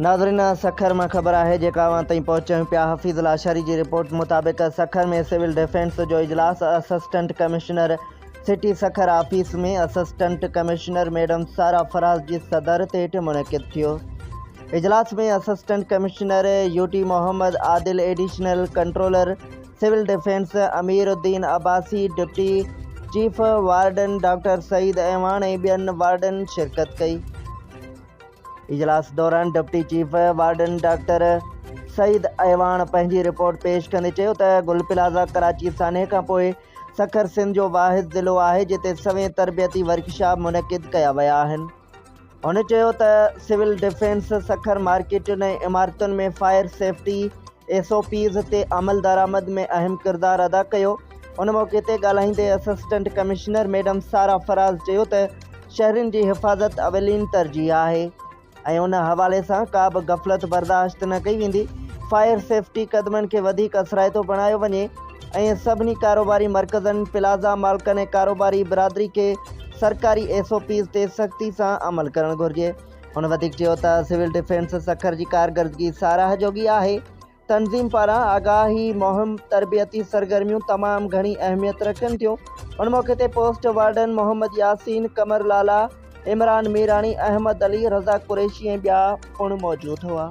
ناظرين اها سکر مان خبر آهي جيڪا اوهان تائين پهچايون پيا حفيظ لاشاري جي رپورٽ مطابق سکر ۾ سول ڊفينس جو اجلاس assistant commissioner city Sukkur office ۾ assistant commissioner madam Sara Faraz جي صدارت هيٺ منعقد ٿيو اجلاس ۾ اسسٽنٽ ڪمشنر يوٽي Muhammad Adil additional controller civil defence امير الدين Abbasi, deputy chief warden doctor Saeed Awan ۽ ٻين وارڊن شرڪت ڪئي. اجلاس دوران deputy chief warden doctor Saeed Awan پنهنجي رپورٽ پيش ڪندي چيو ته گل پلازا ڪراچي سانحي کانپوء سکر سنڌ جو واحد ضلعو آهي جتي سوين تربيتي ورڪشاپ منعقد ڪيا ويا آهن. هن چيو ته سول ڊفينس سکر مارڪيٽن ۽ عمارتن ۾ fire safety S O Ps تي عملدرآمد ۾ اهم ڪردار ادا ڪيو ان موقعي تي ڳالهائيندي assistant commissioner madam Sara Faraz چيو ته شهرين جي حفاظت اولين ترجيح آهي ۽ ان حوالي سان ڪا به غفلت برداشت نه ڪئي ويندي فائر سيفٽي قدمن کي وڌيڪ اثرائتو بڻايو وڃي ۽ سڀني ڪاروباري مرڪزن، پلازا مالڪن ۽ ڪاروباري برادري کي سرڪاري ايس او پيز تي سختي سان عمل ڪرڻ گهرجي. هن وڌيڪ چيو ته سول ڊفينس سکر جي ڪارڪردگي ساراهه جوڳي آهي، تنظيم پاران آگاهي مهم، تربيتي سرگرميون تمام گهڻي اهميت رکن ٿيون، ان موقعي تي پوسٽ وارڊن محمد ياسين، قمر لالا، عمران ميراڻي، احمد علي، رضا قريشي ۽ ٻيا پڻ موجود هئا.